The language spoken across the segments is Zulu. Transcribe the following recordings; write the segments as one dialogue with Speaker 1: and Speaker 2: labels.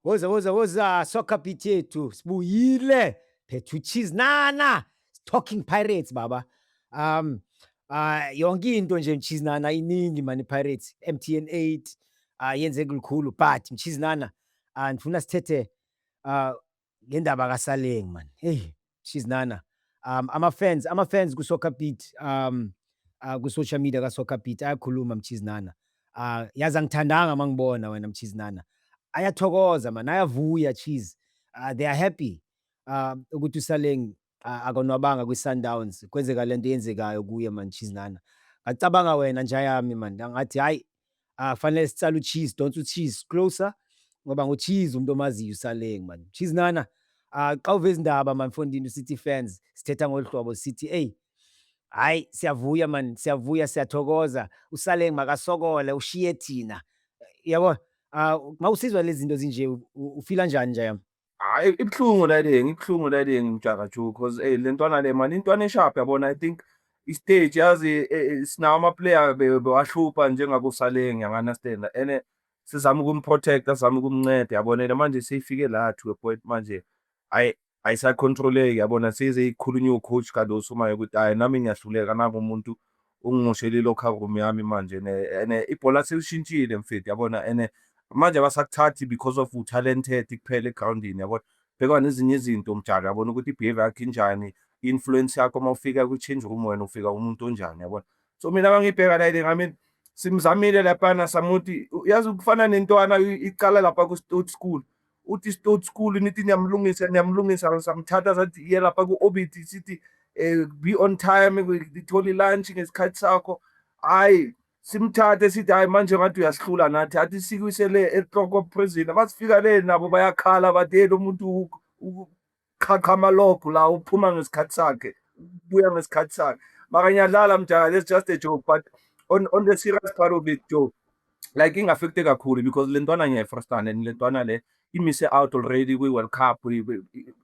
Speaker 1: Woza woza woza soccer beat yethu sibuyile phethu cheese nana talking pirates baba um uh, yonke into nje mchizi nana iningi mani pirates mtn 8 uh, ah, yenzeke lukhulu but mchizi nana uh, ndifuna sithethe uh, ngendaba kaSaleng man. Hey, she's nana. Um ama fans, ama fans ku Soccer Beat um uh, ku social media ka Soccer Beat ayakhuluma mchizinana. Uh yazi angithandanga mangibona wena mchizinana. Ayathokoza man, ayavuya cheese. Uh, they are happy. Uh ukuthi uSaleng a- akonwabanga kwi-Sundowns kwenzeka lento eyenzekayo kuye man cheese nana ngacabanga wena nja yami man ngathi hayi ah fanele sitsala ucheese don't ucheese closer ngoba ngucheese umuntu omaziyo usaleng man cheese nana ah xa uve izindaba man mfondini usithi fans sithetha ngolu hlobo sithi eyi hayi siyavuya man siyavuya siyathokoza usaleng makasokole ushiye thina yabo ah mawusizwa lezi zinto zinje u- u- ufila njani nja yami Hhayi ibuhlungu
Speaker 2: le thing, ibuhlungu le thing Mjaka Ju cause ey le ntwana le mani intwana e-sharp yabona I think i-stage yazi e, e, sinawo ama-player be- bewahlupha njengakoSaleng yangi-understand and sizama ukumprotecta sizama ukumnceda yabona and manje seyifike la to a point manje ayi ayisacontroleki yabona seze ikhulunywa ucoach Cardoso manje ukuthi hhayi nami ngiyahluleka nangu umuntu ungimoshela i-locker room yami manje ne ene ibhola selishintshile mfethu yabona ene manje abasakuthathi because of utalented kuphela egroundini yabona bheka nezinye izinto mjalo yabona ukuthi i-behavior yakho injani i-influence yakho uma ufika kwi-change room wena ufika umuntu onjani yabona so mina mangibheka la ile ngamin simzamile lapana samuthi yazi ukufana nentwana iqala lapha ku-stout school o ti stout school ni ti nyamlungisa nyamlungisa re sa mthata sa ti yela pa ku orbit si ti eh, be on time di tholi lunch ngesikhathi sakho hayi simthathe sithi hayi manje ngathi uyasihlula nathi athi sikwisele ehloko prison basifika le nabo bayakhala bathi hey lo muntu qhaqha amalogo la uphuma ngesikhathi sakhe buya ngesikhathi sakhe maka ngiyadlala mjaka let's just a joke but on, on the serious part of it joe like ingafekte kakhulu because le ntwana ngiyayifrustana and le ntwana le imise out already kwi-world cup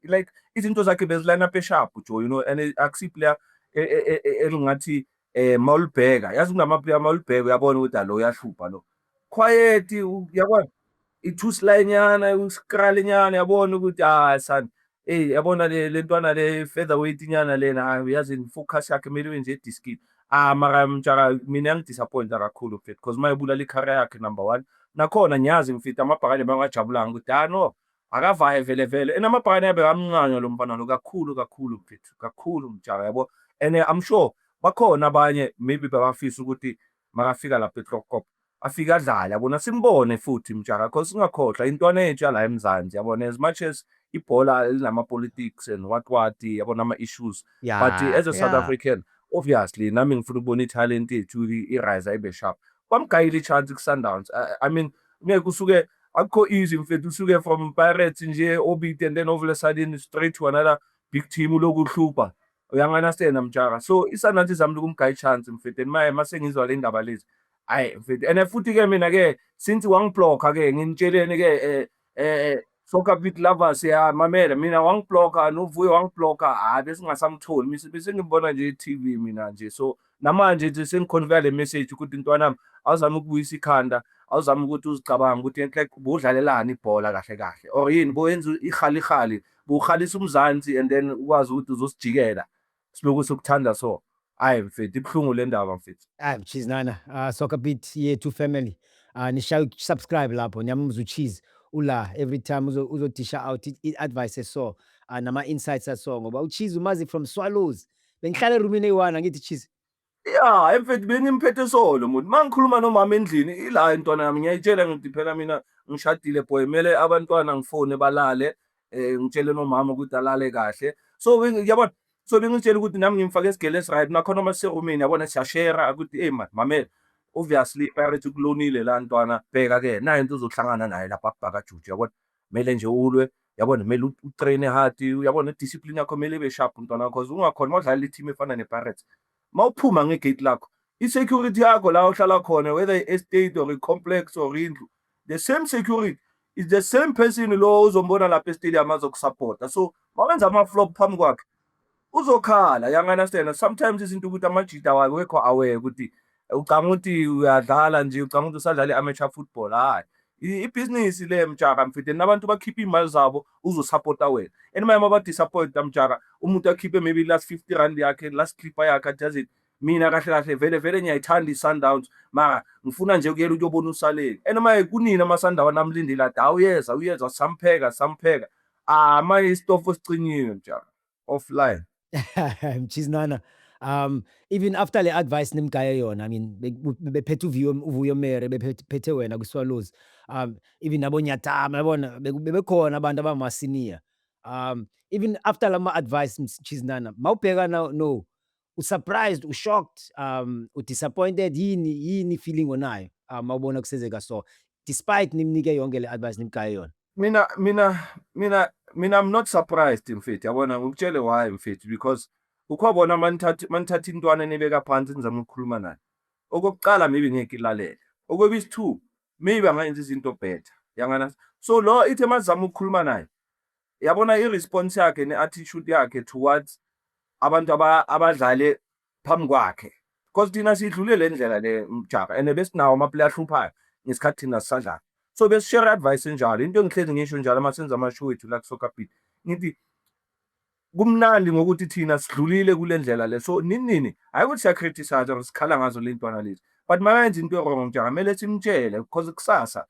Speaker 2: like izinto zakhe bezilana peshapu joe you know and akusiyi player e, e, e, elingathi um mawulibheka yazi kunamaplayer mawulibheka uyabona ukuthi alo uyahlupha lo quiet yabona ithuslinyana usikali nyana yabona ukuthi hayi sana eyi yabona le ntwana le feather weight nyana lena hayi uyazi focus yakhe kumele wenje ediskini ah mara mjaka mina ngidisappointa kakhulu mfethu because uma ebulala ikhara yakhe number one nakhona ngiyazi mfethu amabhakane bangajabulanga ukuthi hayi no akavaye vele vele and amabhakane abe kamncanywa lo mfana lo kakhulu kakhulu mfethu kakhulu mjaka yabo and eh, i'm sure bakhona abanye maybe babafisa ukuthi makafika lapha eClockop afike adlale yabona simbone futhi mjaka cause singakhohlwa intwana yethu yala eMzansi yabona as much as ibhola elinama politics and what what yabona ama issues yeah, but uh, as a yeah. South African obviously nami ngifuna ukubona italent yethu irise ibe sharp bamgayile ichance kuSundowns I, I mean ngeke kusuke akukho easy mfethu usuke from Pirates nje obite and then all of a sudden straight to another big team lokuhlupha uyanganasena mjaka so isanathi zami likumgaya chance mfethu and maye masengizwa le ndaba lezi hayi mfethu and futhi ke mina ke since wangiblocka ke nginitsheleni ke eh eh soccer beat lovers ya mamela mina wangiblocka novuyo wangiblocka hayi besingasamtholi bese ngibona nje TV mina nje so namanje nje sengikhonveya le message ukuthi ntwanami awuzame ukubuyisa ikhanda awuzame ukuthi uzicabanga ukuthi enhle budlalelani ibhola kahle kahle or yini boyenza ihalihali buhalisa umzansi and then ukwazi ukuthi uzosijikela siloku sokuthanda so hayi mfethu ibuhlungu le ndaba mfethu hayi mchizi nana uh,
Speaker 1: soccer beat yethu family uh, ah, nishaya subscribe lapho niyamumza uchizi ula every time uzodisha out i-advice eso uh, ah, nama-insights aso ngoba uchizi umazi from swallows bengihlala erumini eyi-one angithi cheese ya emfethu
Speaker 2: bengimphethe solo muntu uma ngikhuluma nomama endlini ila intwana yami ngiyayitshela ngithi phela mina ngishadile boy kumele abantwana ngifone balale um ngitshele nomama ukuthi alale kahle so yabona so bengitshela ukuthi nami ngimfake esigele esiright nakhona uma siserumini yabona siyashera ukuthi eyi mani mamela obviously iparity ukulonile la ntwana bheka-ke nayo into uzohlangana naye lapha akubhakajuju yabona kumele nje ulwe yabona kumele utraine hard uyabona discipline yakho kumele ibe sharp mntwana wakho cause ungakhona uma udlalela i-team efana ne-pirates uma uphuma ngegate lakho i-security yakho la uhlala khona whether i-estate or i-complex or indlu the same security is the same person lo uzombona lapha estadium azokusapota so mawenza ama-flop phambi kwakhe uzokhala yang understand sometimes izinto ukuthi amajita awekho aware ukuthi ucanga ukuthi uyadlala nje ucanga ukuthi usadlala i-amateur football hayi ibhizinisi le mjaka mfide nabantu bakhipha iy'mali zabo uzosapota wena and maye uma badisappointa mjaka umuntu akhiphe maybe last fifty rand yakhe last clipper yakhe ajazini mina kahle kahle vele vele ngiyayithanda i-sundowns mara ngifuna nje ukuyela ukuyobona usaleni and maye kunini amasandawa namlindile ade awuyeza uyeza sampheka sampheka Ah manje isitofo sicinyiwe mjaka offline.
Speaker 1: Mchiznana. Um even after le advice nimgaye yona I mean be- bu- bephethe uvuyo uvuyo mere bephethe wena kwiswallows um even abonyatama yabona beku- bebekhona abantu abamasinia um even after lama advice mchiznana mawubheka now no usurprised ushocked um udisappointed yini yini feeling onayo uma um, ubona kusenzeka so despite nimnike yonke le advice nimgaye yona mina mina
Speaker 2: mina mina i'm not surprised mfethu yabona ngikutshele why mfethu because ukhobona manithatha manithatha intwana enibeka phansi nizama ukukhuluma naye okokuqala maybe ngeke ilalele okwebisi two maybe angayenza izinto better yangana so lo ithe mazama ukukhuluma naye yabona i-response yakhe ne-attitude yakhe towards abantu abadlale phambi kwakhe because thina sidlule le ndlela le mjaka and besinawo amaplay ahluphayo ngesikhathi thina sisadlala so besishare advice enjalo into engihlezi ngisho njalo uma senza amashow wethu la kusoccer beat ngithi kumnandi ngokuthi thina sidlulile kule ndlela le so nini nini hhayi ukuthi siyacriticize or sikhala ngazo le ntwana lezi but makayenza into erong mjaka kumele simtshele because kusasa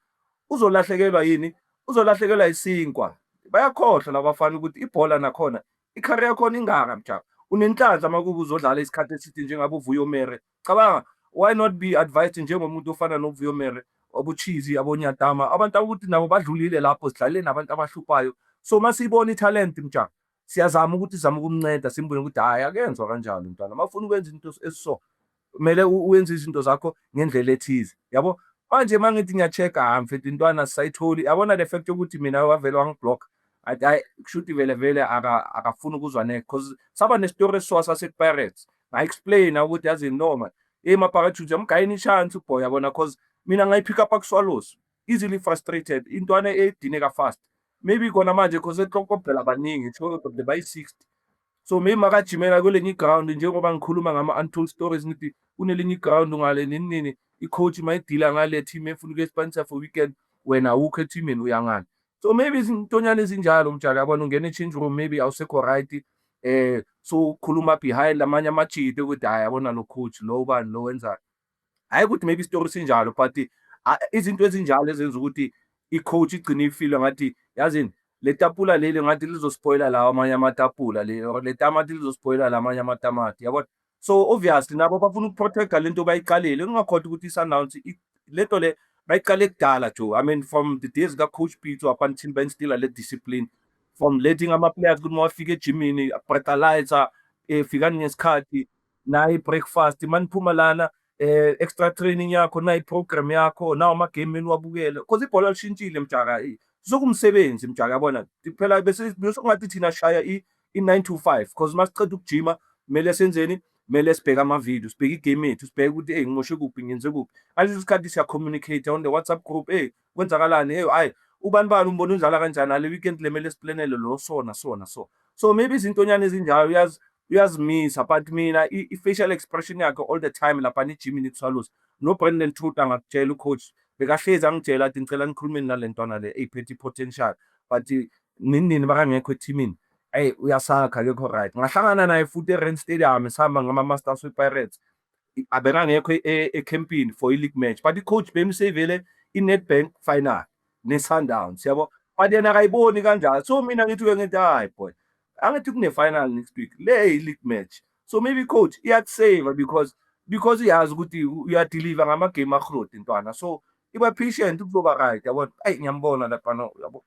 Speaker 2: Uzolahlekelwa yini? Uzolahlekelwa isinkwa. Bayakhohlwa labafana ukuthi ibhola nakhona icareer yakhona ingaka mjaba. Unenhlanhla uma kuba uzodlala isikhathi eside njengabe uVuyo Mere. Cabanga why not be advised njengomuntu ofana noVuyo Mere obuchizi abonyatama abantu ukuthi nabo badlulile lapho sidlalile nabantu abahluphayo so masiyibona italent mjaba siyazama ukuthi sizama ukumnceda simbone ukuthi hhayi akenzwa kanjalo mntwana uma ufuna ukwenza into esiso kumele uyenze izinto zakho ngendlela ethize yabo manje uma ngithi ngiya-check-a hhayi mfethu intwana sisayitholi yabona le fact yokuthi mina wavele wangiblock hayi kushuthi vele vele akafuni ukuzwa next because saba nesitori esiwa sasepirates nga-explaina ukuthi yazi noma eyi mapakathuthi amgayini ishansi uboy yabona because mina ngayiphika up akuswalosi easily frustrated intwana edineka fast maybe kona manje because eklokobhela abaningi eklokobhela bayi-60 so maybe makajimela kwelinye iground njengoba ngikhuluma ngama-untold stories ngithi kunelinye iground ngale nini nini i-coach mayidila ngale team efuna ukuyespanisa for weekend wena awukho ethimini uyangani so maybe izintonyana ezinjalo mjali yabona ungena e-change room maybe awusekho right eh so ukhuluma behind amanye amajide ukuthi hhayi yabona lo coach lo ubani lo wenzani hhayi ukuthi maybe isitori sinjalo but izinto ezinjalo ezenza ukuthi i-coach igcine ifile ngathi yazini le tapula leli ngathi lizospoyila lawa amanye amatapula le tamati lizospoyila la amanye amatamati yabona so obviously nabo bafuna ukuprotecta le nto bayiqalile kungakhoda ukuthi i-sundowns le nto le bayiqale kudala jo i mean from the days ka-coach pitso up until benstila le discipline from letting ama-players ukuthi mawafika ejimini bratalyzer efika ngesikhathi nayi breakfast maniphuma lana eh extra training yakho nayi program yakho nawo ama game eniwabukele because ibhola lishintshile mjaka sokumsebenzi mjaka yabona phela bese ngathi thina shaya i 9 to 5 because masiqeda ukujima kumele senzeni kumele sibheke ama-video sibheke igame yethu sibheke ukuthi eyi ngimoshe kuphi ngenze kuphi ngaleso sikhathi siyacommunicate on the whatsapp group eyi kwenzakalani eyi hhayi ubani bani umbona unjala kanjani ale weekend le mele siplanele lo sona sona so so maybe izintonyana ezinjalo uyazi uyazimisa but mina i-facial expression yakhe all the time lapha nijimini ikuswaluza nobrandon truth angakutshela ucoach bekahlezi angitshela athi ngicela nikhulumeni nale ntwana le eyiphethe i-potential but ninini bakangekho ethimini eyi uyasakha kekho right ngahlangana naye futhi e-rand stadium sihamba ngama-masters we-pirates abekangekho e, e, ekhempini for i-league match but i-coach bemsavele i-nedbank final ne-sundowns yabo but yena akayiboni kanjalo so mina ngithi-ke ngithi hayi boy angithi kune-final next week le i-league match so maybe i-coach iyakusava because because iyazi ukuthi uyadeliva ngamagame ahrodi ntwana so iba patient kuzoba right yabona ayi ngiyambona lapana yabo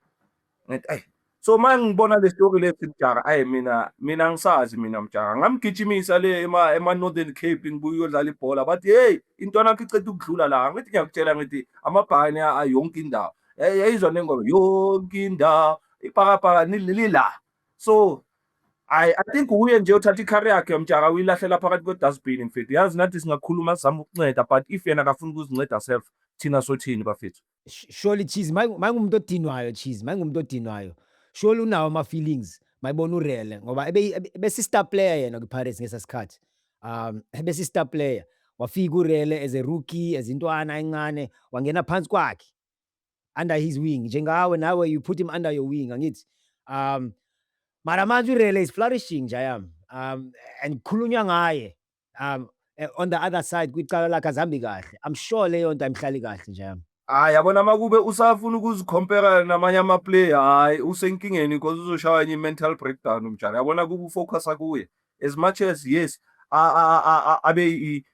Speaker 2: ngithi ayi so uma ngibona le story lesi mjaka ayi mina mina angisazi mina mjaka ngamgijimisa le ema ema Northern Cape ngibuye uyodlala ibhola bathi hey intwana yakho iceda ukudlula la ngithi ngiyakutshela ngithi amabhakane ayonke indawo yayizwa nengoma yonke indawo ibhakabhaka lila so I, I think uye nje uthatha ikhari yakhe mtshaka uyilahlela phakathi kwedustbin mfethu yazi nathi singakhuluma sizama ukunceda but if yena akafuni ukuzinceda self thina sothini bafethu Surely cheese
Speaker 1: mayingumuntu odinwayo cheese mayingumuntu odinwayo surely unawo ama feelings mayibona urele ngoba bese star player yena kwi Pirates ngesa sikhathi um bese star player wafika urele as a rookie as intwana encane wangena phansi kwakhe under his wing njengawe nawe you put him under your wing angithi um mara manje urele is flourishing nje yami um and khulunywa ngaye um eh, on the other side kwicala lakhe azihambi kahle i'm sure leyo nto ayimhlali kahle nje yami hayi yabona uma kube
Speaker 2: usafuna ukuzikhompera namanye amaplay hayi usenkingeni because uzoshaya enye i-mental breakdown umjana yabona kube ufocusa kuye as much as yes abe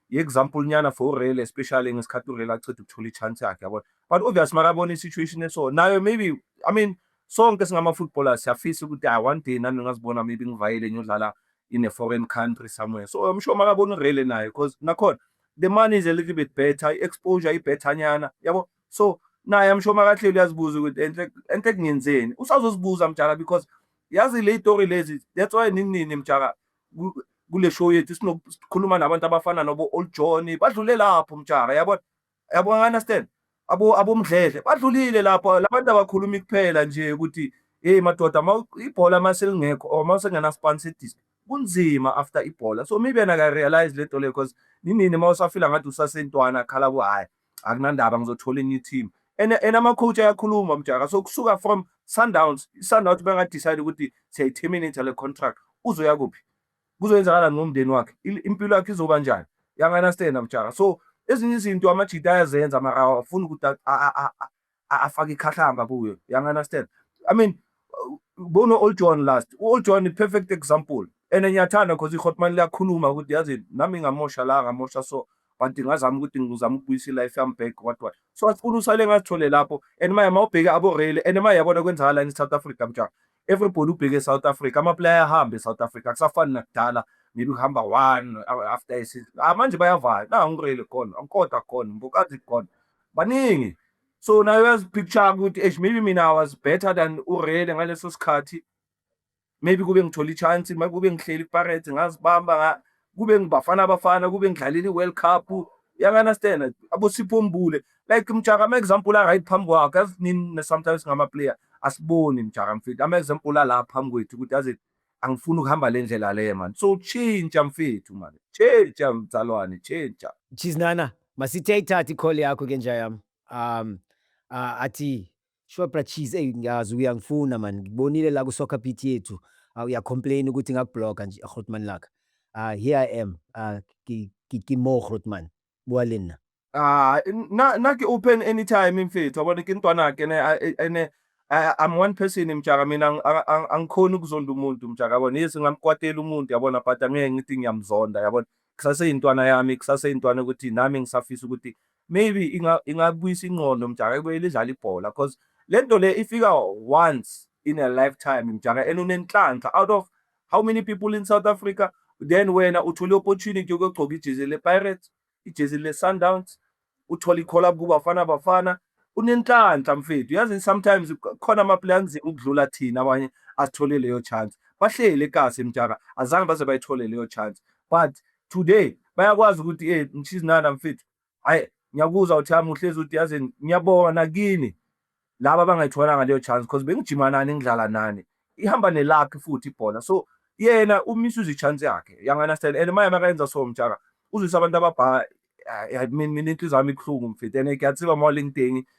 Speaker 2: i-example nyana for urele especially ngesikhathi urele aceda ukuthola i-chance yakhe yabona but obvious makabona i-situation eso nayo maybe i mean sonke singama-footballers siyafisa ukuthi i one day nami ngingazibona maybe ngivayele ngiyodlala in a foreign country somewhere so I'm sure makabona urele naye because nakhona the money is a little bit better i-exposure ibethanyana yabo so naye I'm sure makahleli uyazibuza ukuthi enhle enhle kungenzeni usazozibuza mjaka because yazi le story lezi that's why nini nini mjaka kule show yethu sinokukhuluma nabantu abafana nobo old John badlule lapho mjaka yabona yabo understand abo abomdledle badlulile lapho labantu abakhulumi kuphela nje ukuthi hey madoda ibhola maselingekho or masengena sponsor disc kunzima after ibhola so maybe yena ka realize lento le because ninini uma usafila ngathi usasentwana khala ku hayi akunandaba ngizothola enye team and and ama coach ayakhuluma mjaka so kusuka from Sundowns Sundowns benga decide ukuthi siyayi terminate le contract uzoya kuphi kuzoyenzakalani ngomndeni wakhe impilo yakhe izoba njani yanganastena mjaka so ezinye izinto amajita ayazenza mara awafuni ukuthi afake ikhahlamba kuyo yanganastena i mean bona old john last old john i-perfect example and ngiyathanda because ihotman liyakhuluma ukuthi yazi nami ngamosha la ngamosha so but ngazama ukuthi ngizama ukubuyisa i-life yami back what what so asifuna usale ngazithole lapho and maye mawubheke aborele and maye yabona kwenzakalani i-south africa mjaka everybody ubheke eSouth Africa amaplayer ahamba eSouth Africa kusafani nakudala maybe kuhamba one after isizini ah manje bayavaya na ngirele khona ankoda khona mbokazi khona baningi so nayo yazipicture ukuthi eish maybe mina I was better than urele ngaleso sikhathi maybe kube ngithola ichance maybe kube ngihleli iPirates ngazibamba kube ngibafana bafana kube ngidlalela i-world cup uyanganastena abosipho mbule like mjaka ama-example a-right phambi kwakhe azinini sometimes ngama-player asiboni mjaka mfethu ama-example ala phambi kwethu ukuthi aze angifuni ukuhamba le ndlela le mani so tshintsha mfethu mani tshintsha mzalwane tshintsha jiznana
Speaker 1: masithe ayithathe ikhole yakho ke nja yami um uh, athi Sure bra cheese ey ngiyazi uyangifuna man ngibonile la ku soccer beat yethu uh, uya complain ukuthi ngakubloga nje Grootman laka uh, here I am uh, ki, ki, ki mo Grootman bua le nna Ah, na
Speaker 2: na ke open anytime mfethu yabona ke intwana ke ne ene I'm one person mjaka mina angikhona ukuzonda umuntu mjaka yabona yes ngamkwatela umuntu yabona but angeke ngithi ngiyamzonda yabona kusase intwana yami kusase intwana ukuthi nami ngisafisa ukuthi maybe inga ingabuyisa ingqondo mjaka ekubuyele idlala ibhola because lento le ifika once in a lifetime mjaka and unenhlanhla out of how many people in South Africa then wena uthole opportunity yokugcoka ijezi le Pirates ijezi le Sundowns uthole ikhola kubafana bafana unenhlanhla mfethu yazi sometimes khona ama player anzima ukudlula thina abanye asithole leyo chance bahlele ekasi mjaka azange baze bayithole leyo chance but today bayakwazi ukuthi hey mshizinana mfethu hayi ngiyakuzwa uthi hami uhlezi uthi yazi ngiyabonga nakini laba bangayitholanga leyo chance because bengijima nani ngidlala nani ihamba nelakhe futhi ibhola so yena umisuza ichance yakhe yanganastel and maye makayenza so mjaka uzwisa abantu ababha mina inhliziyo yami ibuhlungu mfethu and ngiyatsiba mawalingithengi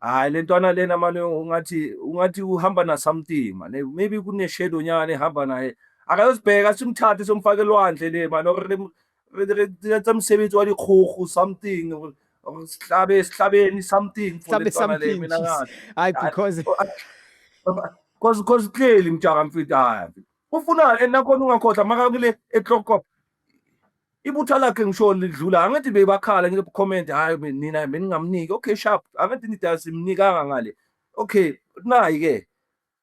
Speaker 2: Hayi le ntwana lena mane ungathi ungathi uhamba na something mane maybe kune shadow nyane hamba naye akayosibheka simthathe somfake lwandle le mane or tsa msebenzi wa dikgogo something or sihlabe sihlabeni something for le ntwana le mina ngathi hayi because
Speaker 1: because
Speaker 2: because clearly mjaka mfita hayi ufunani and nakhona ungakhohlwa makakule eklokop ibutha lakhe ngisho lidlula angithi bebakhala ngithi comment hayi nina beningamniki okay sharp angithi nida simnikanga ngale okay nayi ke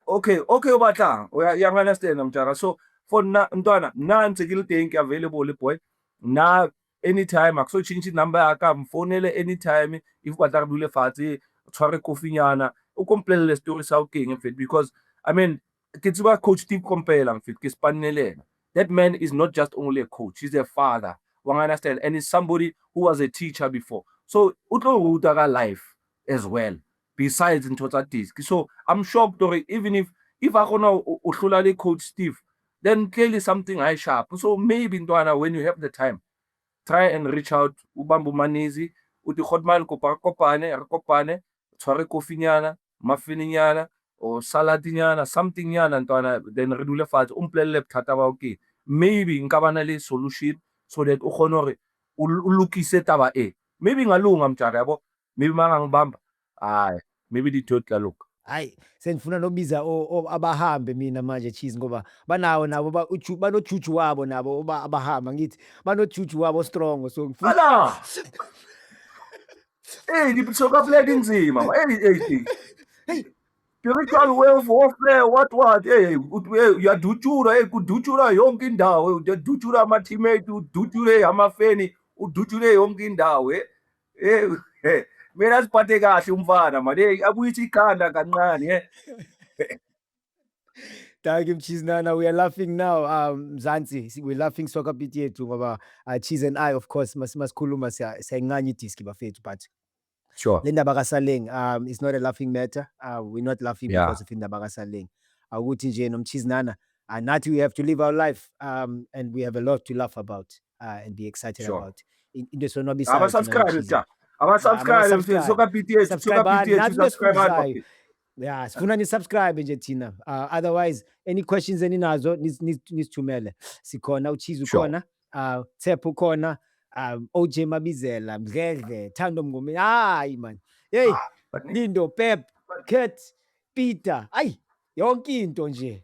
Speaker 2: okay okay ubatla uya understand mjaka so for na mntwana nansi kilidink available boy na anytime akusochintsha inumber yaka mfonele anytime if batla kudule fathi tshware kofinyana ukomplelela story sa uking mfethu because i mean ke tsiba coach Steve Komphela mfethu ke sipanelela that man is not just only a coach he's a father wa understand and he's somebody who was a teacher before so u tlo ruta ka life as well besides ntho tsa disk so i'm shocked or even if if a gona u hlula le coach Steve then clearly something i sharp so maybe ntwana when you have the time try and reach out ubambu manizi uthi khotman kopane kopane tshware coffee nyana muffin nyana or salad nyana something nyana ntwana then re dule fatshe o mpolelele bothata bao ke maybe nka ba na le solution so that o kgone gore o lokise taba e maybe ingalunga mjara yabo maybe mangangibamba hayi maybe ditho tla loka hayi sengifuna
Speaker 1: nobiza abahambe mina manje cheese ngoba banawo nabo banojuju wabo nabo uba abahamba ngithi banojuju wabo strong so ngifuna
Speaker 2: Hey, die bezogen op leiding zien, man. Hey, hey, hey. Hey.
Speaker 1: Spiritual
Speaker 2: wealth warfare, what, what? Hey, uyadutyulwa, hey, kudutyulwa yonke indawo. Uyadutyulwa ama-teammate, udutyule amafeni, udutyule yonke indawo. Hey, hey, hey. Mina siphathe kahle umfana, man. Hey, akuyithi ikhanda kancane, hey.
Speaker 1: Thank you Mchizinana. We are laughing now. Um Mzansi, si- we're laughing soccer beat yethu ngoba uh, Cheese and I of course mas masikhuluma siya- siyayincanya idiski bafethu but sure le ndaba
Speaker 2: kaSaleng
Speaker 1: um it's not a laughing matter. Uh, we're not laughing Yeah. because of indaba kaSaleng. Awukuthi nje nomchizinana uh, nathi we have to live our life um and we have a lot to laugh about uh, and be excited Sure. about. In- Into
Speaker 2: esonwabisayo
Speaker 1: thina abasubscribe nomchizinana.
Speaker 2: cha abasubscribe mfethu Abasubscribe. soka BTS soka Subscribe, BTS nathi subscribe besibuzayo. ya
Speaker 1: sifuna nisubscribe nje thina uh, otherwise any questions eninazo nis- nis- nisithumele sikhona uchizi Sure. ukhona uh, thep ukhona um, oj mabizela mdledle thando mngome hayi mani yeyi Baningi. lindo pep cat peter ayi yonke into nje